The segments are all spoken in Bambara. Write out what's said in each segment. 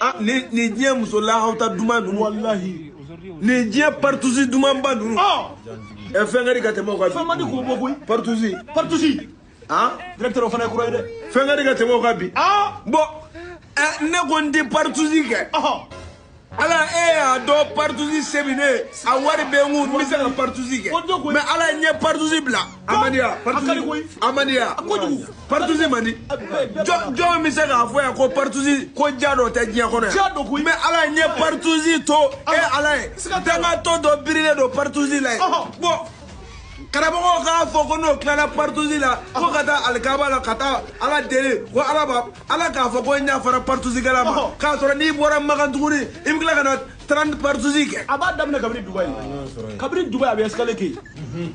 ah, ni ni diɲɛ muso lahawta duman ninnu walahi nin diɲɛ paritusi dumanba ninnu ɛ fɛn ka di ka tɛmɛ o kan fɛn man di k'o bɔ koyi paritusi paritusi ah directeur o fana ye kura ye dɛ fɛn ka di ka tɛmɛ o kan bi ah bon ɛ ne ko n tɛ paritusi kɛ ala e y'a dɔn paritusi se bi ne ye a wari bɛ n kun n bɛ se ka paritusi kɛ mais ala ye n ye paritusi bila amadiya amadiya paritusi man di jɔn bɛ se k'a fɔ yan ko paritusi ko ja dɔ tɛ diɲɛ kɔnɔ yan mais ala ye n ye paritusi to e ala ye dangatɔ dɔ birilen don paritusi la yen bon karamɔgɔw k'a fɔ ko n'o tilala paritusi la ko ka taa alikaba la ka taa ala deli ko ala ba ala k'a fɔ ko n yafara paritusikɛla ma k'a sɔrɔ n'i bɔra makan tuguni i bɛ tila ka na 30 paritusi kɛ a b'a daminɛ kabini dubayi kabini dubayi a bɛ escale kɛ yen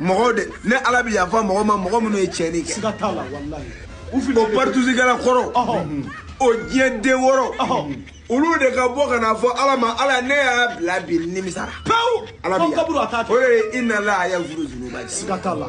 mɔgɔw de ne ala bɛ yafa mɔgɔ ma mɔgɔ minnu ye tiɲɛni kɛ siga t'a la walayi u fili o paritusikɛla kɔrɔ o diɲɛ den wɔɔrɔ olu de ka bɔ ka n'a fɔ ala ma ala ne y'a bila bi nimisara pewu ala bɛ yafa o de ye inna la yafuru zunuba siga t'a la